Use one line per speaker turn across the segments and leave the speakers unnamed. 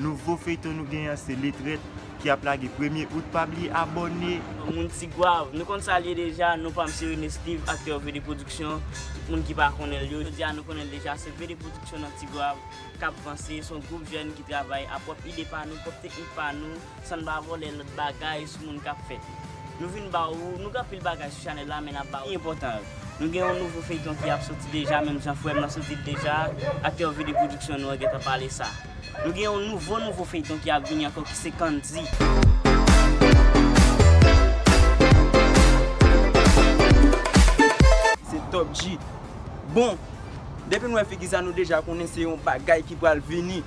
Nouvo feyton nou gen an se letrèt ki ap lage premye out pa bliye abòne. Moun tigwav
nou konn sal ye deja nou pam se rene steeve aktè vd production tout moun ki pa konnenl yo jodia nou konnenl deja se vd production nan tigwav kap vanse son group jèn ki travay a pwòp ide pa nou pwòp teknik pa nou sann pa vòlè lòt bagay sou moun kap fèt nou vin ba ou nou gen anpil bagay sou chanèl la men nap ba ou ki enpòtan yo nou gen yon nouvo feyton ki ap soti deja menm jan frèm nan soti l deja aktè vd production nou an gentan pale sa. Nou gen yon nouvo nouvo feyton ki ap vini ankò ki se Candy.
Se Top G. Bon, depi nou wè figi sa nou deja konnen se yon bagay ki pral vini.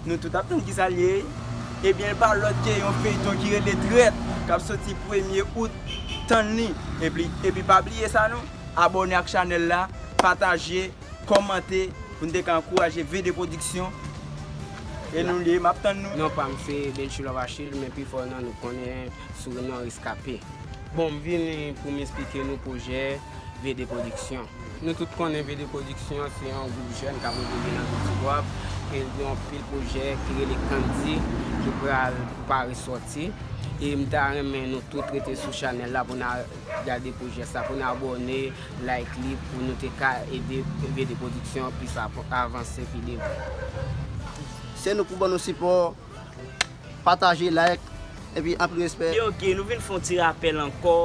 Nou tout ap tann ki sa l ye. Ebyen l pa lòt ke yon feyton ki rele Trèt k ap soti premye out. Tann li. Epi pa bliye sa non, abòne ak chanèl la, pataje. kòmante pou n te ka ankouraje VD Production e nou liye map tann nou. Non pam se Delchilove
Achille men pifò nan nou konnen sou non Rescapé. Bon m vini pou m esplike nou pwojè VD Production. Nou tout konnen VD Production se yon gwoup jèn kap evolye nan vil Tigwav e l gen yon pil pwojè ki rele Candy ki pral pare sòti e m ta renmen nou tout rete sou chanèl la pou n al gade pwojè sa pou n abòne Like li pou nou te ka ede BD production an plis avanse pi devan.
Se nou pou ban nou sipò, pataje, like, epi anpil respè. Yo ok nou vin fon ti
rapèl ankò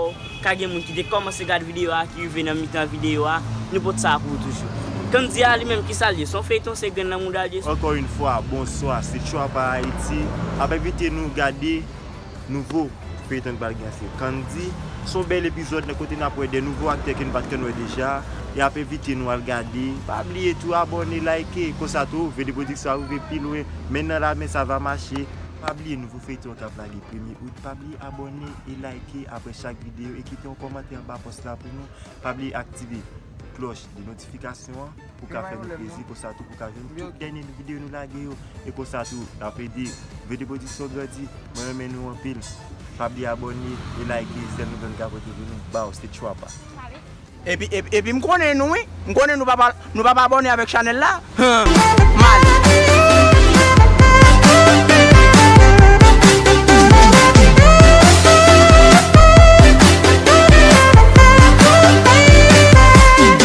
ka gen moun ki te kòmanse gad video a ki rive nan mitan video a nou pot sa pou ou toujou. Kandy a li menm kisal ye son feyton se grenn nan moudal ye. Ankò yn fwa
bonswa se Tchwapa Ayiti ap envite nou gade. Nouvo feyton ki pral gen an se Candy, se yon bèl epizòd nan kote nap wè 2 nouvo aktè ke nou pat konn wè deja, yap envite nou al gade, pa bliye tou abòne, like, konsa tou Vee 2 Production ap rive pi lwen, men nan la men sa va mache, pa bliye nouvo feyton an kap lage premye out, pa bliye abòne e like aprè chak videyo e kite yon kòmantè anba pòs la pou nou, pa bliye aktive klòch de notifikasyon an. pou ka fè nou plezi konsa tou pou ka jwenn tout dènye videyo nou lage yo e konsa tou nap ede Vede Production grandi mwen renmen nou anpil pa bliye abòne e like zèl nou vèn gabo tv nou baw se tchwapa
Epi m konnen nou wi, m konnen nou pa pa abòne avèk chanèl la, humm, mal.